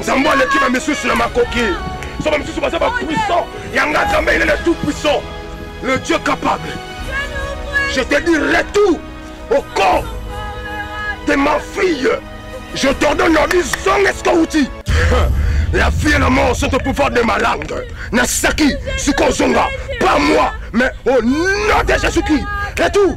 nzambe aleki bamisusu na makoki so bamisusu baza bapuissant yanga nzambe ile le tout puissant le dieu capable je te dis retour au corps de ma fille je t'ordonne ordi zonga esika outi la fille na mort sont au pouvoir de ma langue nasaki sikoyo zonga pas moi mais au nom de jésus christ retour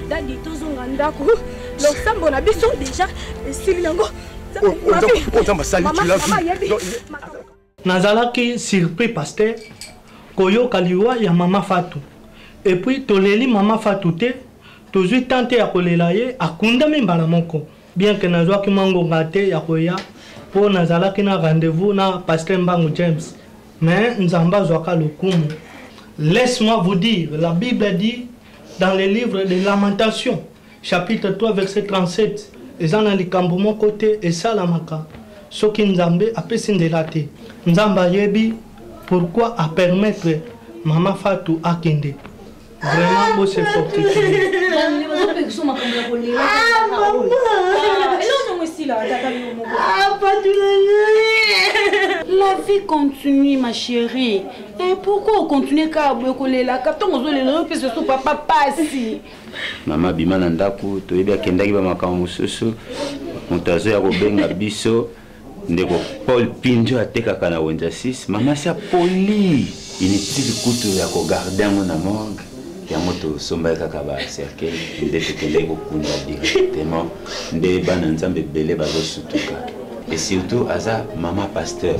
dadi tozonga ndako losambo na biso deja esili yango nazalaki surpris paster koyoka liwa ya mama fatu epuis toleli mama fatu te tozwi tan te ya kolela ye akundami mbala moko bien ke nazwaki mwa ngonga te ya koya mpo nazalaki na rendez-vous na paster mbangu james mais nzambe azwaka lokumu laisse moi vous dire la bible dit dans le livre de lamentation chapitre 3 verset 37 eza na likambo moko te esalamaka soki nzambe apesi nzela te nzambe ayebi pourquoi apermettre mama fatu akende vraiment bose fortifie La vie continue, ma chérie. Eh, pourquoi on continue kaka boye kolelaka ntongo ozolela yo mpesa so papa pasi mama abima na ndako toyebi akendaki bamakambo mosusu moto azoya kobenga biso ndeko paul pinjo atekaka na wenza 6 mama si apoli inutile kutu ya kogarde yango na morgue yango tosombaki kaka bacercueil nde tokendaki kokunda directement nde bana nzambe ebele bazosutuka et surtout aza mama pasteur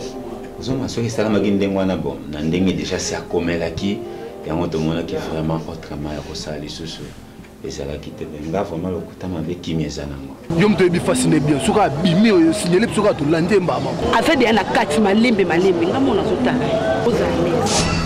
Zoma soki esalamaki ndenge wana bon na ndenge deja si akomelaki yango tomonaki vraiment autrement ya kosala lisusu ezalaki te me nga vraiment lokuta mabe kimi eza nango yo moto oyebi fasi ne bien soki abimi oyo signale mpe soki atolandi ye mbaa moko aza deya na kati malembe malembe nga mona azotala ozala neti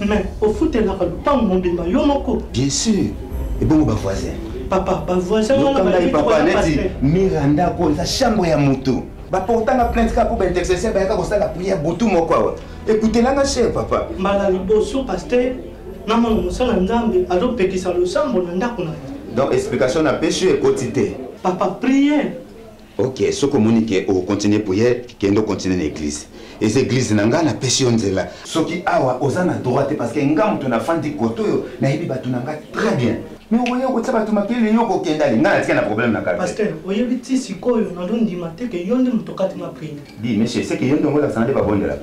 Mais ofutelaka lupangu mobimba yo moko? Bien sûr. Ebongo ba voisins. Papa, ba voisins wana ba yebi papa neti Miranda ko eza chambre ya moto. Ba portanga plainte ka pour ba intercession ba yaka ko sala prière butu moko awa. Écoutez là ma chère papa. Mbala liboso pasteur na mwana mosala Nzambe azopekisa losambo na ndako na ye. Donc explication na peche ekoti te. Papa prière ok soki omoni ke okocontinue priere kende ocontinue na eglise eza eglise na ngai napesi yo nzela soki awa oza na droit te parce que nga moto nafandi kote oyo nayebi bato na ngai très bien me okoya okotya bato makele yo kokenda ali ngai natika na problème na quartier oyebi ti sikoyo nazondima te ke yo nde moto okati ma priere di monsieur seke yo nde ongolakisa na nde babondelaka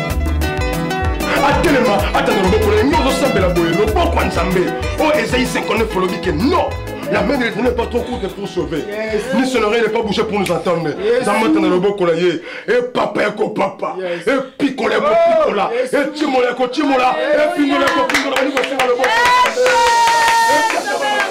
atelema ata na loboko na nyoso osambela boye loboko ya nzambe oyo ezali sekonde folobi ke non La main de l'Éternel n'est pas trop courte pour sauver. Yes. Ni son oreille n'est pas bouchée pour nous entendre. Yes. Zamata na loboko na ye. E papa yako papa. Yes. E pikola yako oh, pikola. Yes. E timola yako timola. Yes. E pingola yako pingola. Yes.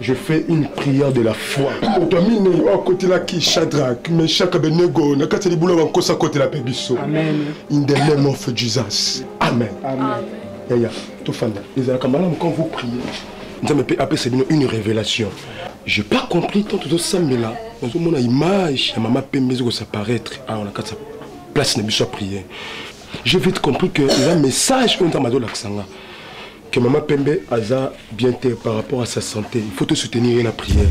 Je fais une prière de la foi. moto ya minei oyo akotelaki shadrak meshak abenego na kati ya libula bankosi akotela mpe biso in the name of jesus amen, amen. yaya tofanda ezalaka malamu quand vous priez nzambe mpe apesa bino une révélation j'ai pas compris tant tozosambela nazomona image ya mama pembe ezi kosaparaitre awa na kati ya place na biso ya prière j'ai vite compris que eza message oyo nzambe azolakisa nga que mama pembe aza bien te par rapport à sa santé il faut tosoutenir ye na prière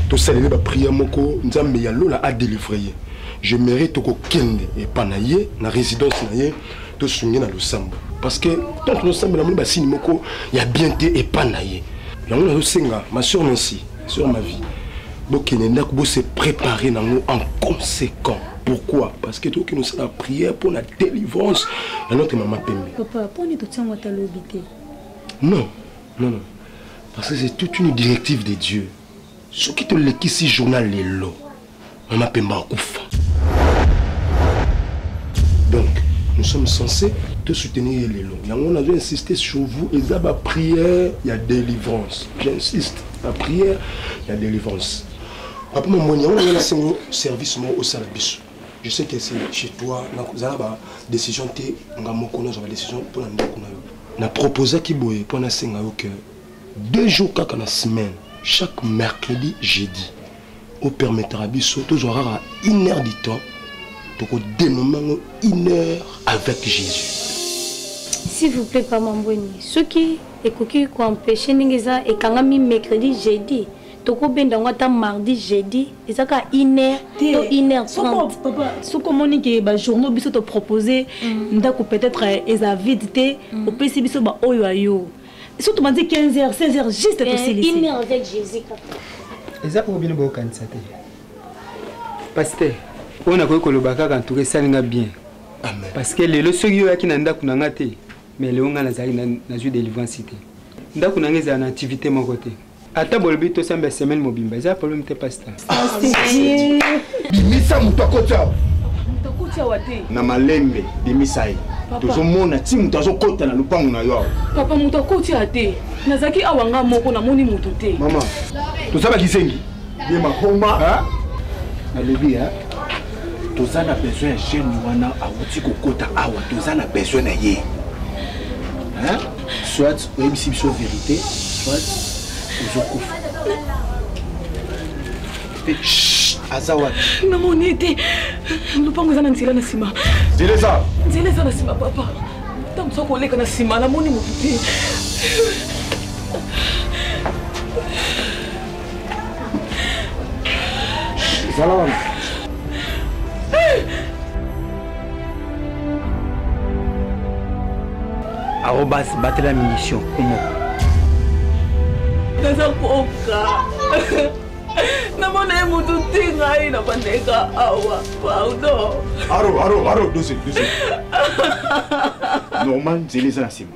tosalele baprière moko nzambe ya lola adelivre ye je mérite tokokende epa na ye na résidence na ye tosunge na losambo parce que tant tosambela moni basini moko ya bien te epa na ye yango nazosenga ma soeur nancy sur ma vie bokende ndako bose préparer nango en conséquent pourquoi parce que tokende osala prière mpo na délivrance ya notre mama pembe papa mpo nini totiango ata lobi te non non non parce que c'est toute une directive de dieu soki tolekisi journal lelo mama pembe akufa donc nous sommes censés te soutenir ye lelo yango nazo insiste sur vous eza baprière ya délivrance j'insiste baprière ya délivrance papa mamoni yango ngai nasengo service moko osala biso je sais que c'est chez toi nazala ba décision te nga moko nazwa ba décision mpo na ndako na yo na proposaki boye mpo nasenga yo que deux jours kaka na semaine chaque mercredi jeudi opermetaka biso tozwa kaka une heure du temps tokodénome yango une heure avec jésus s'il vous plaît pamambweni soki ekoki koempêche ndenge eza ekangami mercredi jeudi tokobenda yango ata mardi jeudi eza kaka une heure to une heure trente soki omoni ke bajournaux biso topropose mm. ndako peut-être eh, eza vide te mm. opesi biso baoyo ya yo surtout bandi 15 heures 16 heures juste eh, tosilisi eza oyo bino bokanisa te paster oyo nakoki koloba kaka ntuka esali nga bien parce que lelo soki yo oyaki na ndako na nga te mais lelo nga nazali nazwi délivrance te ndako na nga ezala na activité moko te ata bolobi tosamba ya semaine mobimba eza problème te pasta bimisa moto akoti awa na malembe bimisa ye tozomona ti moto azokota na lopango na yo awa papa moto akoti ya te nazalaki awa nga moko namoni moto te mama toza bakisengi ye mahoma nalobi toza na besoin ya jeune wana awuti kokota awa toza na besoin na ye soit oyebisi biso verité soit ozokufa aza wapi namoni ete lopango eza na nzela na nsima nzela eza nzela eza na nsima papa ntango soki oleka na nsima namoni motu te zala wana arobas batela mission omoko naza koka namona ye motu te ngai na bandeka awa pardon aro aro aro dose dose normal nzela eza na nsima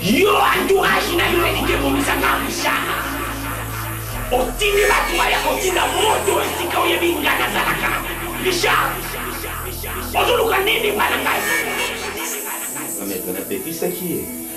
yo entourage na yo elingi ebongisaka mishana otindi bato baya kotinda moto esika oyebi nga nazalaka richard ozoluka nini bana ngai napekisaki ye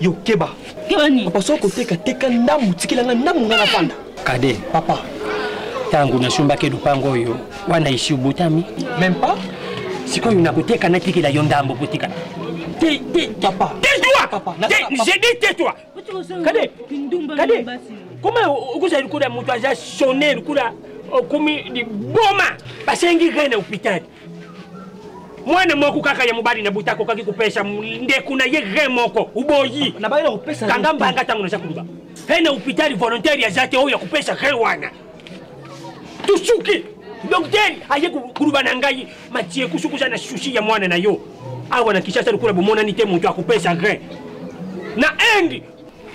yo keba keba nini papa soko teka teka ndambu tikela nga ndambu nga na fanda kade papa tangu na sombaki lupango oyo wana isi obotami même pas sikoyo nakoteka natikela yo ndambo kotika te te papa tais-toi papa j'ai dit tais-toi kade kade koma okozala lokola moto aza sonne lokola okomi liboma basengi rai na hopitali mwana moko kaka ya mobali na buta akokaki kopesa ndeko na ye re moko uboyi kanga mbanga ntango naza koloba he na hopitali volontaire yaza te oyo ya kopesa re wana tosuki dokter aye koluba na ngai matie kusukuza na susi ya mwana na yo awa na kishasa lokola bomonani te moto akopesa re na inde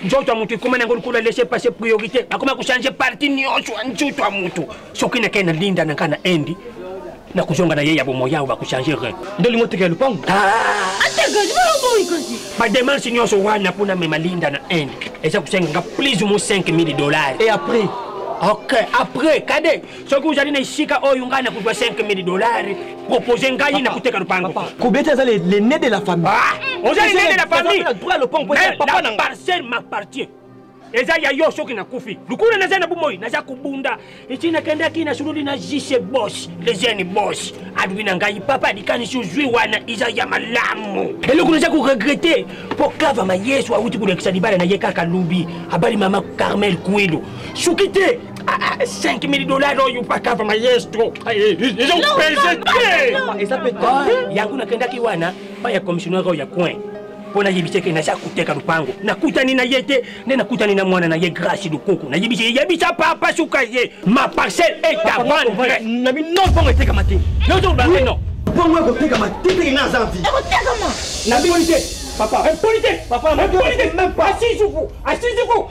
nzoto ya moto ekoma nango lokola laisse passe priorité bakoma kochange parti nyonso ya nzoto ya moto soki nakei na linda na ngai na indi nakozonga na ye ya bomoi awa bakochange re nde olingi oteka ya lopango bademarche nyonso wana mpo namema linda na inde eza kosenga nga plus ou moins 5000 dollars et après ok après kade soki ozali na esika oyo ngai nakozwa 5000 dolari propose ngai na koteka lopango kobeta eza lene de la famille ah, oza lene de la familleparcelle m'appartient eza ya yo soki nakufi lukuna naza na bomoi naza kobunda eti nakendaki nasololi na jise bos lejene bos alobi na ngai papa likanisi ozwi wana eza ya malamu eloko naza koregrete mpo kavama yesu awuti kolekisa libala na ye kaka lobi abali mama carmel kuilu soki te 5000 dollars oyo pakava maestro eza opese te eza mpe yango nakendaki wana pa ya commissionnaire oyo ya coin mpo nayebisi eke naza koteka lupango nakutani na ye te nde nakutani na mwana na ye grace lukuku nayebisi ye yebisa papa suka ye ma parcelle est à vendre na bino bongo etekama te yozolobanga no bongo ekotekama te teke na aza vie ekotekama na bino te papa impolite papa impolite même pas asisuku asisuku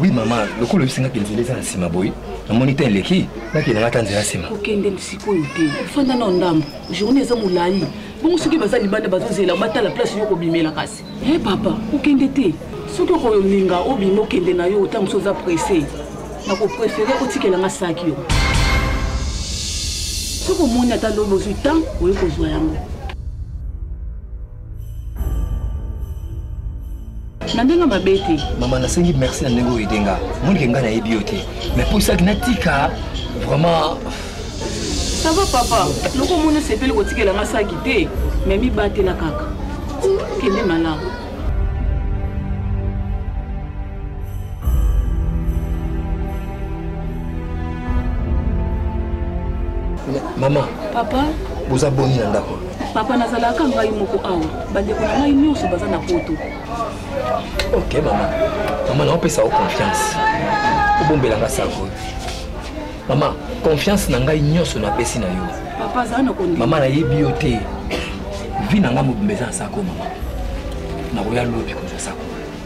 oui mama lokola oyebisi nga ke nzela eza na nsima boye namoni te eleki nakende nga ata nzela nsima okende sikoyo te fanda na ndambo journée eza molai bongo soki baza libanda bazozela batala place yo kobimela kasi e eh, papa okende te soki okolinga obima okende na yo ntango mosusu oza presse nakoprefere otikela nga saki yo soki omoni ata lobi ozwi ntango oye kozwa yango na ndenge mabe te mama nasengi merci na ndenge oyo edenga monike ngai nayebi yo te mais mpo esaki natika vraiment ça va papa loko omoni osepeli kotikela nga saki te mais mibatela kaka kende malamu mama papa boza boni na ndako papa nazalaka ngai moko awa bandeko na ngai nyonso baza na poto ok mama mama naopesa yo confiance obombelanga sako mama confiance na ngai nyonso napesi na yo mama nayebi yo te vi na ngai mobimba eza na sako mama nakoya lobi kozwa sako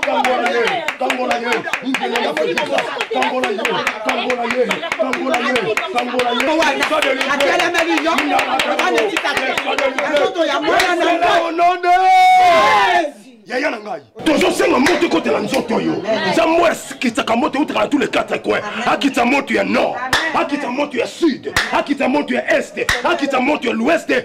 Kangola ye, kangola ye, ngele ya fekisa, kangola ye, kangola ye, kangola ye, kangola ye. Atelemeli yo, bana titake, azoto ya mwana na ngai. yaya na ngai tozosenga moto ekotela nzoto oyo nzambe akitsaka moto eutaka na tous les quatre coin akitsa moto ya nord akitsa moto ya sud akitsa moto ya est akitsa moto ya l'ouest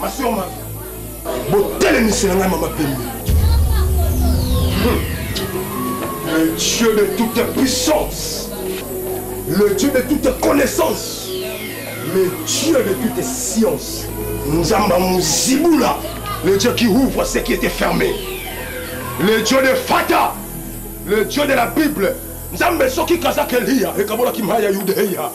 masioma botelemisela ngai mama pembe le dieu de toute puissance le dieu de toute connaissance le dieu de toute science nzamba muzibula le dieu qui ouvre ce qui était fermé le dieu de fata le dieu de la bible nzambe soki kazaka eliya ekabolaki maya yudeya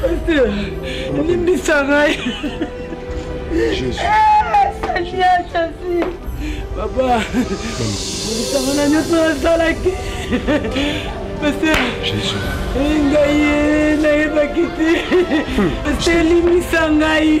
Pasteur, limbisa ngai. Jésus. Seigneur Jésus. Papa, limbisanga na nyonso nasalaki. Pasteur. Jésus. Ngai nayebaki te. Pasteur, limbisa ngai.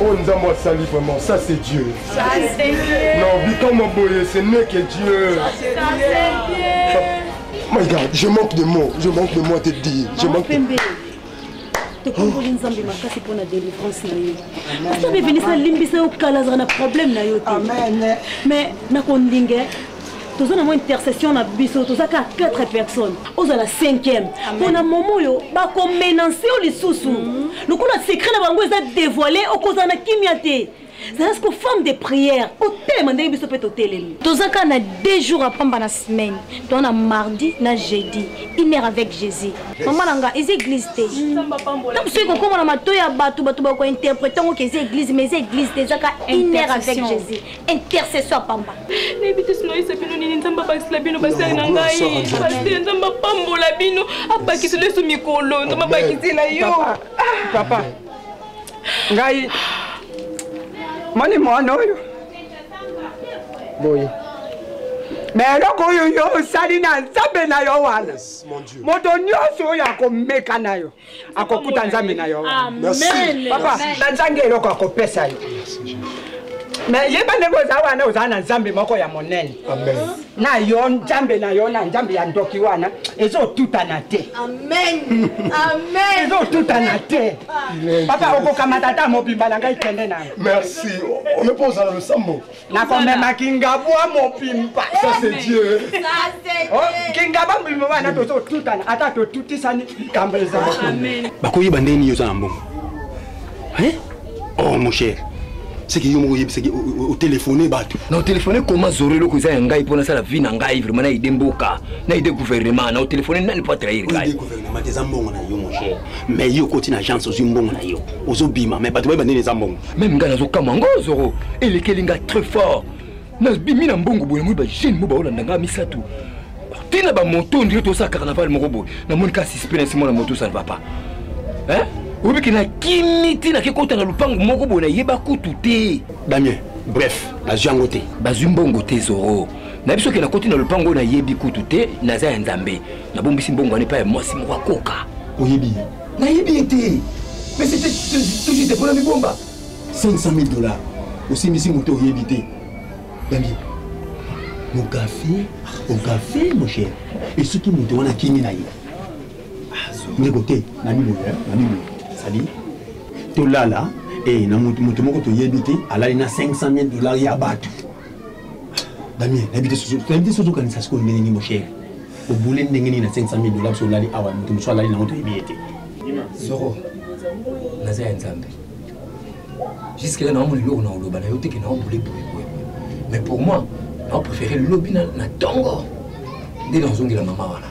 oyo oh, nzambe asali vraiment ça c'est dieu non bikamwa boye ce n'est que dieu my god je manque de mots je manque de mots à te dire je manque de... tokomboli nzambe makasi mpo na délivrance na yo nzambe venisa alimbisa yo kala azala na problème na yo te mais nakolinga toza na mwa intercession na biso toza kaka 4 personnes ozala 5e mpo na momo oyo bakomenanse yo lisusu mhm. lokola secret na bango eza dévoile okozala na kimia te zala siko femme de prière otelema ndenge biso mpe totelemi toza kaka na deux jours apamba na semaine toa na mardi na jeudi une heure avec jésus mama na nga eza église te ntango soki kokoma na matoi ya bato bato bakointerprete yango ke eza église mais eza église te ezaka une heure avec jésus intercession ya pamba nayebi te sinoyisa bino nini nzambe abakisela bino basali na ngai paster nzambe apambola bino abakisela yesu mikolo nzambe abakisela yo papa ngai moni mwana oyo boye me eloko oyo yo osali na nzambe na yo wana moto nyonso oyo akomeka na yo akokuta nzambe na yo papa nazangi eloko akopesa yo me yeba ndenge oza wana oza na nzambe moko ya monene na yo nzambe na yo na nzambe ya ndoki wana ezotutana te ezotutana te papa okokamata ata mobimba na ngai kende na merci oyo mpo ozala losambo nakomema kingabwa mopimpa kingaba mopimpa wana tozotutana ata totutisani likambo ezali bakoyeba ndenge nini oza na mbongo oh mon cher seki yo moko oyebisaki otelefone bato na otelefone koma zoro eloko eza ya ngai mpo nasala vie na ngai vraimen naide mboka naide gouvernement na otelefone nani mpo atrahir ngai gouvernement eza mbongo na yo mon cher mais yo okoti na agence ozwi mbongo na yo ozobima mais bato bayeba ndeni eza mbongo meme ngai nazokamwa ngo zoro elekeli ngai très fort nabimi na mbongo boye namoni bajeune mo baolanda ngai misato ntina bamoto ndire tosala carnaval moko boye namoni ka suspect nasi mwana moto ça ne va pas hein oyebi ke nakimi ntina kekota na lopango moko boye nayeba kutu te damien bref bazwi yango te bazwi mbongo te zoro na biso ke nakoti na lopango oyo nayebi kutu te naza ya nzambe nabombisi mbongo wana epai ya mwasi moko akoka oyebi nayebi ye te mais c'était tout juste mpona mibomba 500 000 dollars osimbisi moto oyebi te dangi okafe okafe mon cher esoki moto wana akimi na ye ndeko te na biboye na biboye sadi tolala e na moto moko toyebi te alali na 500 000 dollars ya bato damien nayebi te soki ozokanisa sikoyo ndenge nini moshere obule ndenge nini na 500 mille dollars so olali awa moto mosusu alali nango toyebi ye te zoro naza ya nzambe jusque là naomona eloko na oloba na yo teke naobule boyeboye mais pour moi naopréféré lobi na tongo nde nazongela mama wana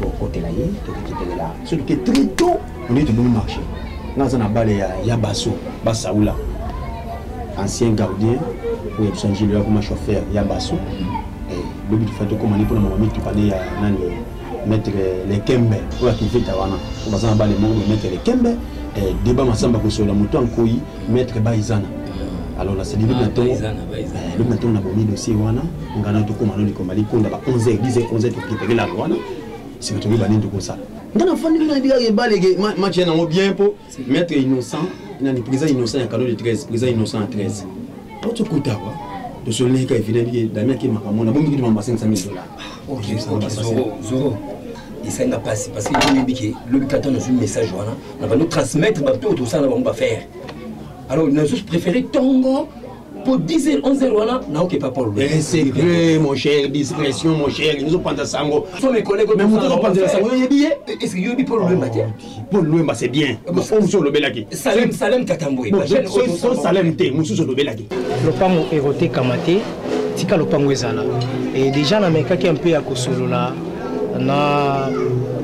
tokotela ye tokekitelela soki ke trito ondei tomoni marché nga aza na bale ya, ya baso basaula ancien gardien oyo biso angelo yakoma chauffeur ya baso eh, lobi tufa tokoma ni mpona mama mituka ne ya nani maître lekembe oyo akivita wana baza na bale moko me maître lekembe eh, deba masamba kosola moto ya nkoi maître baizana alors na selili na tongo lobi na tongo na bomi dossier wana ngana tokoma no likoma likonda ba 11 heures 10 heures 11 heures tokipenge lalo wana nsima tokoki banini tokosala nga nafandi bino nayebi kaka ebalege match ya nango bien mpo maître innocent nani président innocent ya cadeau de 13 président innocent ya 13 aotokuta kwa tosololeki ka evidemment damien akemaka mona bomi kitu mamba 500 000 dollars ok zoro zoro esali na mpasi parce que toyebi ke lobi kata nazwi message wana na bando transmettre bato oyo tosala na bango bafaire alors nazo préféré tongo mpo 10 heures 11 heures wana naoke papa secret mon cher discrétion mon cher ezopanza sango mais moto ezopanzela sango yo oyebi ye est ce que yoyebi mpo lobemba te paul luemba c'est bien oyo mosusu olobelaki salem salem katambwe so salem te mosusu olobelaki lopango ekotekama te tika lopango ezala e déjà namekaki mpe ya kosolola na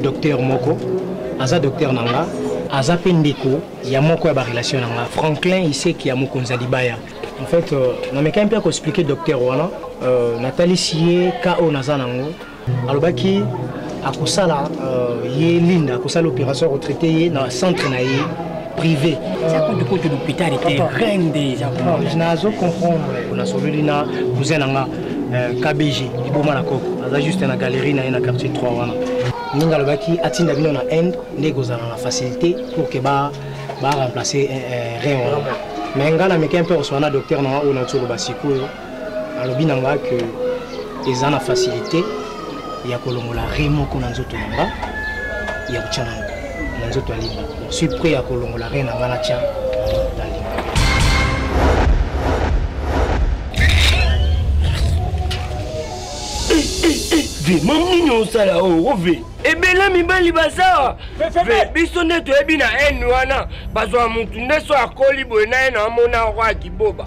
docteur moko aza docteur na nga aza mpe ndeko ya moko ya barelation na nga franklin iseki ya mokonzi ya libaya en fait euh, namekaki mpe ya koexplike docteur wana euh, natalisi ye ka oyo naza nango alobaki akosala euh, ye linda akosala opération retraité ye na centre na ye privé kutu l'hôpital était reine déjà nazo comprendre nasololi na cousin na nga euh, kbg liboma na koko aza juste na galerie na ye na quartier 3 wana ndenge alobaki atinda bino na inde nde ekozala na facilité pour ke ba baremplace euh, rein wana mais ngai na meke mpe oswana docteur na nga oyo naotoloba sikoyo alobi na nga ke eza na facilité ya kolongola re moko na nzoto na nga ya kotya na na nzoto ya limba suis prêt ya kolongola re na nga natya na limba ve mam nini osala oo oh, ve ebele mibali baza biso nde toyebi na haine wana bazwa motu nde so akoli boye na ye na amona roi kiboba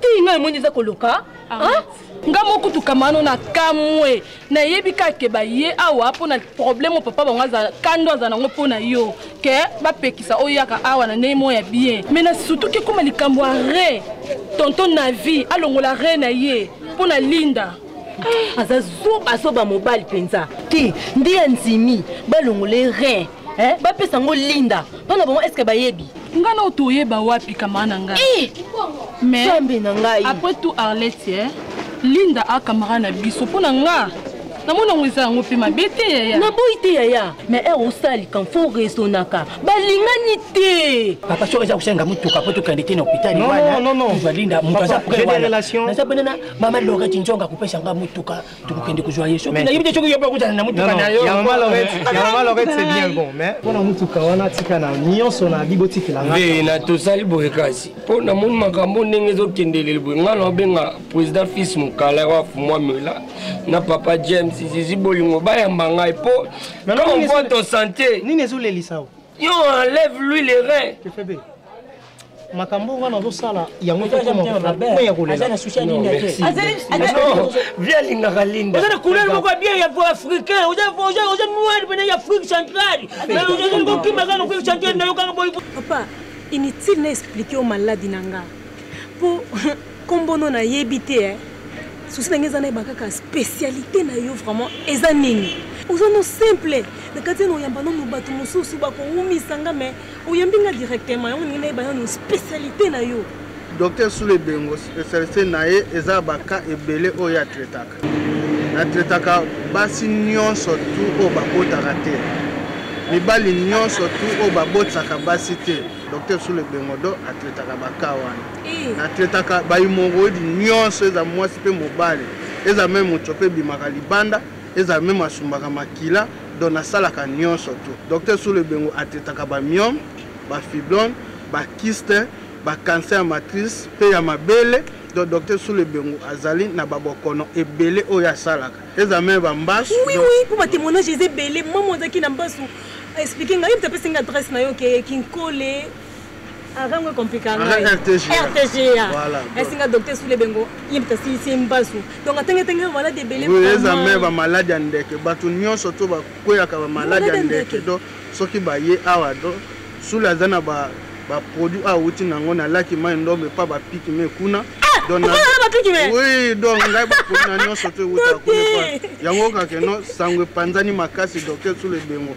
tii ngai omoni eza koloka nga moko tukamano na kamwe nayebi kaka ke baye awa mpo na problème oyo papa bango azala kando azala nango mpo na yo ke bapekisa oyaka awa na ndenge moko ya bien mai na sutuki ekoma likambo ya re tonto na vie alongola re na ye mpo na linda aza zobazoba mobali mpenza te nde andimi balongole rein eh, bapesa yango linda mpo na bango eske bayebi nga na otoyeba wapi kamaa na ngai eh! maismbe na ngai après tout arlette eh? linda a kamara na biso mpo na nga namoni yango eza yango mpe mabe te yaya naboyi te yaya mais ere eh, osalika fo resonaka balingani te papa so eza kosenga motuka mpo tokende te na hôpital wanalinda moto aza prelation naza pene na mama loreti nzonga kopesa nga motuka tokokende kozwa ye soki nayebi te soki yo mpe okutana na motuka na yo malorete c'est bien bon mais mpo na motuka wana tika na nyonso na bi botikela ngai na tosali boye kasi mpo namoni makambo ndenge ezokende lelo boye ngai naobenga président fils mokala wa fumwamela na papa james zizi bolingo bayamba ngai mpo comme mpo to sante nini ezolelisa yo enlève lui les reins makambo wana ozosala yango ekokoma ya kolelaazali alingaka lindaoza na couleur moko ya bien ya po africain oza noir pene ya afrique centrale ozali kokima kaka afrique centrale nayo kaka boy papa inutile na explike yo maladi na nga mpo kombono nayebi te eh. susi na ngai eza nayeba kaka spécialité na yo vraiment eza nini oza no simple na kati ya noyamba nono bato mosusu bakowumisa nga mai oyambi nga directement yango ndenge nayeba nanu spécialité na yo docteur sule ebengo spécialité na ye eza baka ebele oyo ye atretaka natretaka basi nyonso tu oyo babotaka te mibali nyonso tu oyo babotisaka basi te docteur sule ebengo do atretaka baka wana eh. natretaka baimoroidi nyonso eza mwasi mpe mobali eza meme moto mpe ebimaka libanda eza meme asumbaka makila donc nasalaka nyonso tu docteur sulu ebengo atetaka bamiome bafiblone bakiste bakancer ya matrice mpe ya mabele donc docteur sulu ebengo azali na babokono ebele oyo asalaka eza meme bambasu oui oui mpo batemoignage eza ebele mama ozalaki na mbasu explike ngai mpe apesi ngai adresse na yo ke kinkole arango ekomplika ngai rtga esi nga docteur sule bengo ye mpe asilisi mbasu donc atengetenge bamaladi ebele eza me bamaladi ya ndeke bato nyonso to bakweyaka bamaladi ya ndeke do soki baye awa do sule aza na baproduit oyo awuti na yango na laki mai ndombe mpa bapiki me kuna oui donc ngai baproduit na nyonso to ewuta kuna yango kakeno sango epanzani makasi docteur sule bengo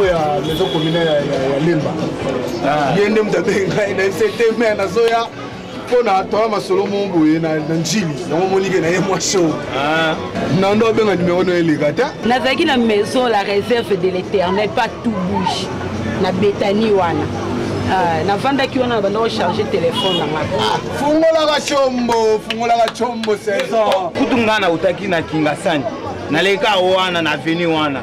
oyo ya maison communale ya lemba ah. ye nde moto abengi ngai na fct mai nazoya mpo na tola masolo mo boye na njili yango monike na ye mwa show ah. nando abenga nimero no eleka te nazalaki na maison la réserve de l'éternel pas tout bouge na betani wana ah, navandaki wana nabanda kocharge telefone nanga fungolaka combo fungolaka combo saison kutu ngai nautaki na kingasani naleka wana na aveni wana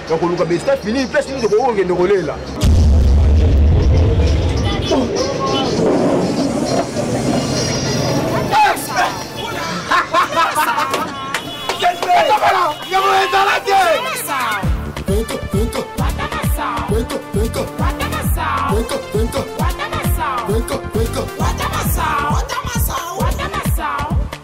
na koluka besta fini place nini tokoki kokende kolela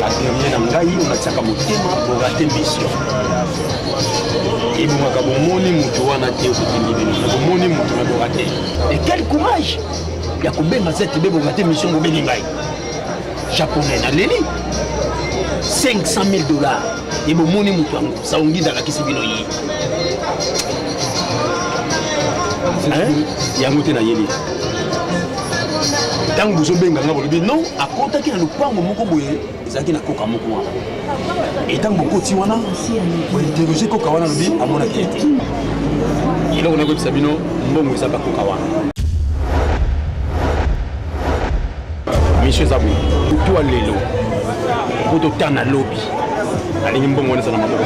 baperie na ngai natiaka motema borate mission ebongaka bomoni moto wana te okokende bino na bomoni moto na borate e quel courage ya kobenga zete bebongate mission bobengi ngai japonais naleli 500 000 dollars ebomoni moto yango saongida alakisi bino ye yango te nayebi ntango bozobenga nga bolobi non akotaki na lopango moko boye ezalaki na koka moko wana e ntango bokoti wana bointerroge koka wana lobi amonaki ye te eloko nakoyebisa bino mbongo eza bakoka wana misio eza boye kutu ya lelo po tota na lobi alingi mbongo wana eza na maboko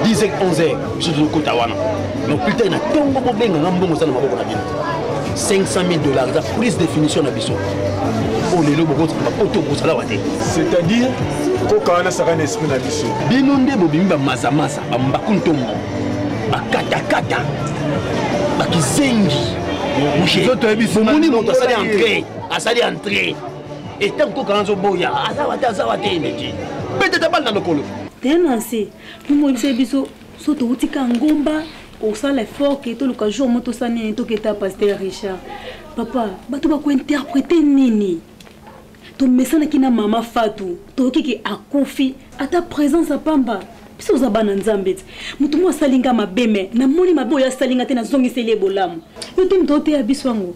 10 11 biso tozokota wana donc plus tard na ntongo bobenga nga mbongo eza na maboko na bino 500 000 dollars eza prise définition na biso oyo lelo bokotikaka po to bozala wa te c'est-à-dire koka wana saka na esprit na biso bino nde bobimi bamazamaza bambaku ntombo bakatakata bakizengi bomoni moto asali entré asali entré etango koka wana azoboya azawa te azawa te eleki mpe te tabali na lokolo tenanse momonisa biso so touti ka ngomba kosala effort ke toluka jour mo tosala nini toketa paster richard papa bato bakointerprete nini tomesanaki na mama fatu toyoki ke akufi ata présence ya pamba biso oza bana nzambe ti moto mo asali nga mabe me namoni mabe oyo asali nga te nazongiseli ye bolamu yo te moto oteya biso yango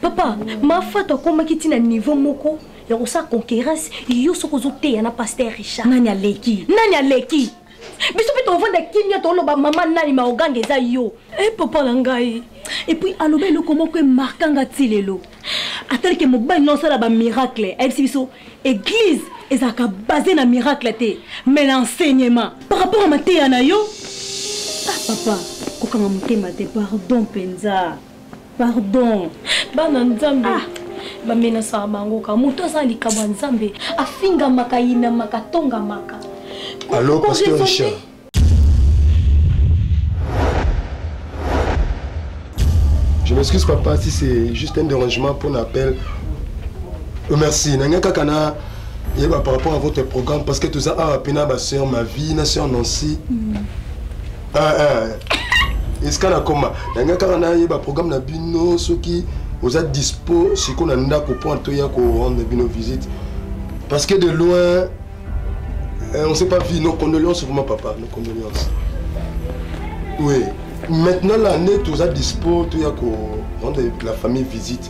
papa mafato akomaki ntina niveau moko ya kosala concurrence yo soki ozoteya na paster richard nani aleki nani aleki biso mpe tovanda kimia toloba mama nani maoganga eza yo e eh, papa na ngai epuis aloba eloko moko emarka nga ti lelo atalike mobali na osala bamiracle ayebisi biso eglize ezalaka base na miracle te mais na enseignement par rapport ya mateya na yo ah papa kokanga motema te pardon mpenza pardon bana nzambe ah. bamenasaka bango ka moto aza likambo ya nzambe afingamaka yinamaka tongamaka alo pasteur richard Je m'excuse papa si c'est juste un dérangement pour l'appel. Euh, merci. Nanga kakana yeba par rapport à votre programme parce que tout ça a pena ba sœur ma vie, na sœur Nancy. Mm. Ah, ah. esika nakoma nanga kaka nayeba programme na bino soki oza dispo sikoyo na ndako mpo anto ya korendre bino visite parce que de loin euh, on sait pas vie nos condoléances vraiment papa nos condoléances oui maintenant l'année toza dispo toya korendre la famille visite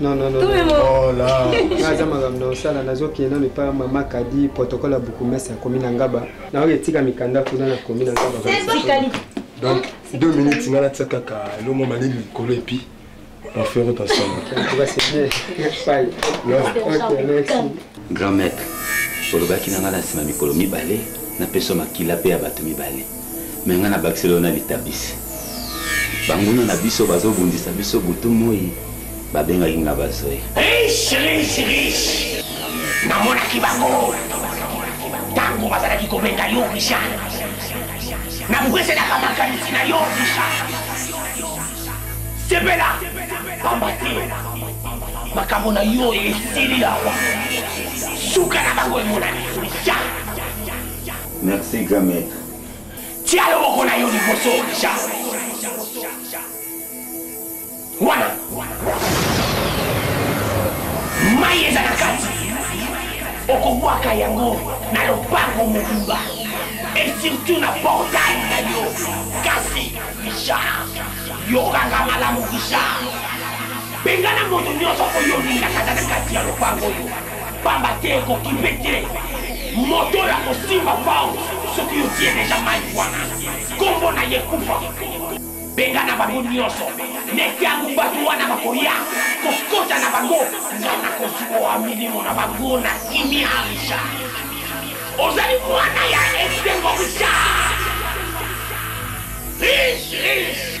Non, non, non. Oh là. Naza makambo na osala nazokende nano epai mama kadi protocole ya bukumesi akomi na ngaba naoyo etika mikanda kuna nakomi na ngaba donc deux minutes nga natia kaka elongo malili likolo epi on fait route ensemble grand maître olobaki na ngai na nsima mikolo mibale napesa makila mpe ya bato mibale me ngai nabakiseli yo na litabisi banguna na biso bazobundisa biso butu moi babengaki nga bazoya riche riche riche namonaki bango ntango bazalaki kobenga yo richard nabukeselaka makanisi na yo richard sepela pamba te makambo na yo esili awa suka na bango emonani richard Merci grand maître. Tia yo moko na yo liboso ja. Wana. Mai eza na kati. Okobwaka yango na lopango mobimba. Et surtout na portail na yo. Kasi Richard, yokanga malamu Richard. Bengana moto nyonso oyo olingaka na kati ya lopango oyo. Pamba te ekoki mpe te moto oyo akosimba pao soki otie deja mai wana nkombo na ye kufa bengana bango nyonso na ntango bato wana bakoya kokota na bango nga nakozwa milimo na bango na kimia richard ozali mwana ya esengo richard riche riche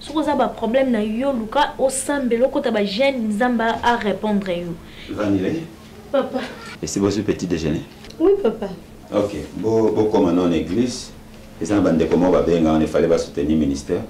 soki oza ba problème na yo luka osambela okota ba jeune nzambe a répondre yo vanile papa esi bozwi petit déjeuner oui papa ok bokoma non église eza na bandeko moko babenga wana efale basoutenir ministère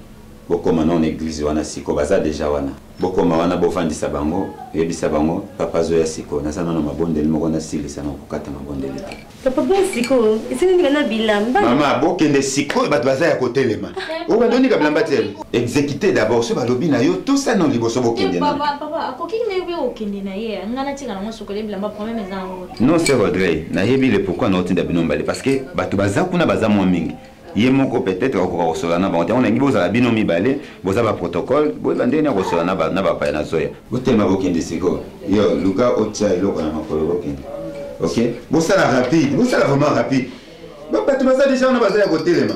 bokoma non église wana siko baza deja wana bokoma wana bofandisa bango oyebisa bango papa azoya siko naza nano mabondeli moko nasilisa na kokata mabondeli te Papa bon sikoyo esili ndika na bilamba. Mama bokende sikoyo bato baza ya kotelema. Oyo bando ndika bilamba te. Exécuter d'abord so balobi na yo to sa non liboso bokende na. Papa papa akoki na yo kokende na ye. Nga na tika na ngo sokole bilamba problème eza ngo. Non c'est regret. Na yebi le pourquoi na otinda bino mbale parce que bato baza kuna baza mwa mingi. ye moko peut-être akokoka kosolola na bango te yango nalingi bozala bino mibale boza baprotocole boyeba ndenge nini akosolola na bapaya na zoya botelema bokende sikoyo yo luka otya eloko na makolo bokende ok bosala rapide bosala vraiment rapide bato baza deja wana baza ya kotelema